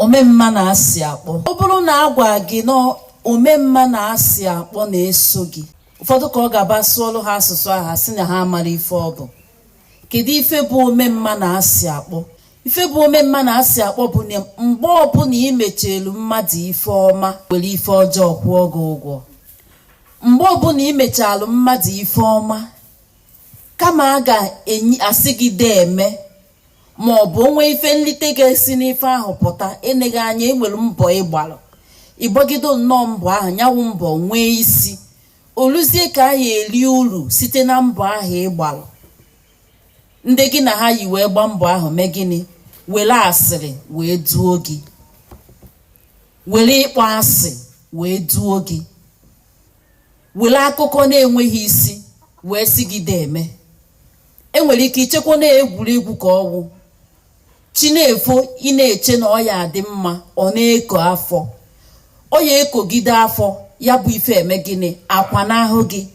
omemma na-asị akpọ ọ bụrụ na a gwa gị na omemma na-asị akpọ na-eso gị ụfọdụ ka ọ ga-abụ a sụọlụ ha asụsụ a ha sị na ha amara ife ọ bụ kedu ife bụ omemma na-asị akpọ ife bụ omemma na-asị akpọ bụ na mgbe ọbụla ị mechalụ mmadụ ife ọma were ife ọjọọ kwụọ gị ụgwọ mgbe ọbụla ị mechalụ mmadụ ife ọma kama a ga-asị gị deeme ma ọ bụ o nwee ife nlite ga-esi n'ife ahụ pụta eleghị anya e nwere mbọ ị gbalụ ị gbagido nnọọ mbọ ahụ nya wụ mbọ nwee isi o luzie ka a ya eri uru site na mbọ ahụ ị gbalụ ndị gị na ha yi wee gbaa mbọ ahụ mee gịnị were asịrị wee duo gị were ịkpọ asị wee duo gị were akụkọ na-enweghị isi wee sị gị deeme e nwere ike i chekwa na egwuregwu ka ọ wụ chi na-efo ị na-eche na ọ ya adị mma ọ na-eko afọ ọ ya ekogide afọ ya bụ ife emee gịnị akwanahụ gị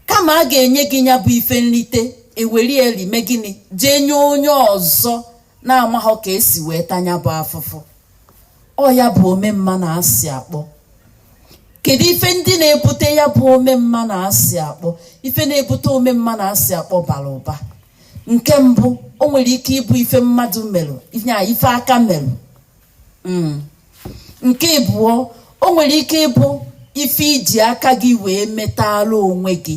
kama a ga-enye gị ya bụ ife nrite eweri eri mee gịnị jee nye onye ọzọ na-amaghọ ka e si wee ta nya bụ afụfụ ọ ya bụ omemma na asị akpọ kedu ife ndị na-ebute ya bụ omemma na asị akpọ ife na-ebute omemma na asị akpọ bara ụba nke mbụ o nwere ike ịbụ ife mmadụ merụ ya ife aka merụ hmm. nke ịbụọ o nwere ike ịbụ ife i ji aka gị wee metala onwe gị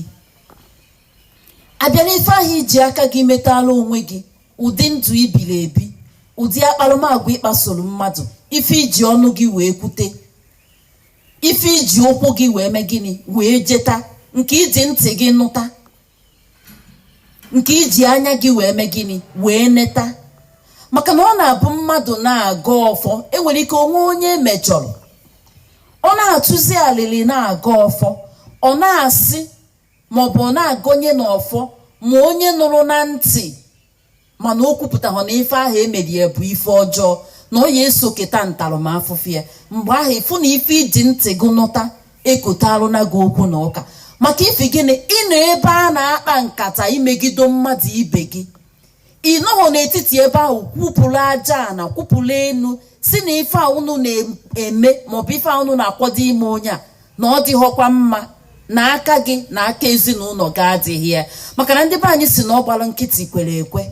a bịa n'ife ahụ i ji aka gị metala onwe gị ụdị ndụ i biri ebi ụdị akparamagwa ị kpasoro mmadụ ife i ji ọnụ gị wee kwute ife i ji ụkwụ gị wee mee gịnị wee jeta nke i ji ntị gị nụta nke i ji anya gị wee mee gịnị wee neta maka na ọ na-abụ mmadụ na-agọ ọfọ e nwere ike o nwee onye e mejọrọ ọ na-atụzi alịlị na-agọ ọfọ ọ na-asị maọbụ ọ na-agọnye n'ọfọ ma onye nụrụ na ntị mana o kwupụtahụ na ife ahụ e mere ya bụ ife ọjọọ na ọ ya eso keta ntaramafụfụ ya mgbe ahụ ị fụ na ife i ji ntị gị nụta ekotarụna gị okwu na ụka maka ifi gịnị ị nọ ebe a na-akpa nkata imegido mmadụ ibe gị ị nọghọ n'etiti ebe ahụ kwupụrụ aja ana kwupụrụ enu sị na ife a unu na-eme maọbụ ife a unu na-akwado ime onye a na ọ dịghọkwa mma na aka gị na aka ezinụlọ gị adịghị ya maka na ndị be anyị sị na ọ gbara nkịtị kwere ekwe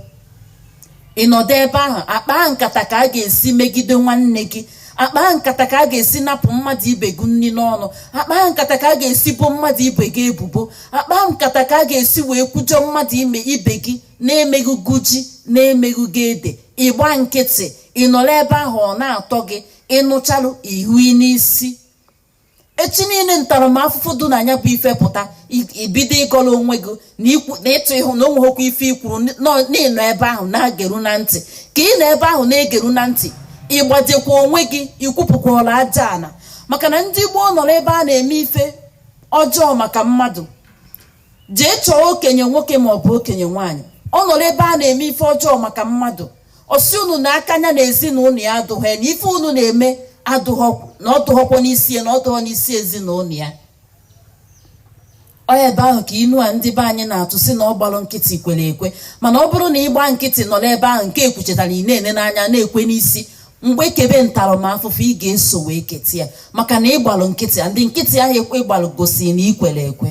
ị nọdụ ebe ahụ akpa nkata ka a ga-esi megide nwanne gị akpa nkata ka a ga-esi napụ mmadụ ibe gị nri n'ọnụ akpa nkata ka a ga-esi bo mmadụ ibe gị ebubo akpa nkata ka a ga-esi wee kwujọ mmadụ ime ibe gị na-emeghị gị ji na-emeghị gị ede ịgba nkịtị ị nọrọ ebe ahụ ọ na-atọ gị ịnụchalụ ihu n'isi echi niile ntaramahụhụ dị na nya bụ ife pụta i bido ịgọrọ onwe gị na ịtụ ịhụ na o nweghọkwa ife i kwuru na ị nọ ebe ahụ na-egeru na ntị ka ị nọ ebe ahụ na-egeru na ntị ịgbajekwa onwe gị ikwupụkwala aja ala maka na ndị gboo nọrọ ebe a na-eme ife ọjọọ maka mmadụ jee chọọ okenye nwoke ma ọ bụ okenye nwaanyị ọ nọrọ ebe a na-eme ife ọjọọ maka mmadụ ọ sị unu na aka nya na ezinụlọ ya adụghọ ya na ife unu na-eme adụghọ na ọ dụghọkwa n'isi ya na ọ dụghọ n'isi ezinụlọ ya ọ ebe ahụ ka inu a ndị be anyị na-atụ sị na ọ gbalụ nkịtị kwere ekwe mana ọ bụrụ na ị gba nkịtị nọ n'ebe ahụ nke ekwuchetara ị na-ene n'anya na-ekwe n'isi mgbe e kebe ntaramafụfụ ị ga-eso wee keta ya maka na ị gbalụ nkịtị a ndị nkịtị ahụ ị gbalụ gosiri na i kwere ekwe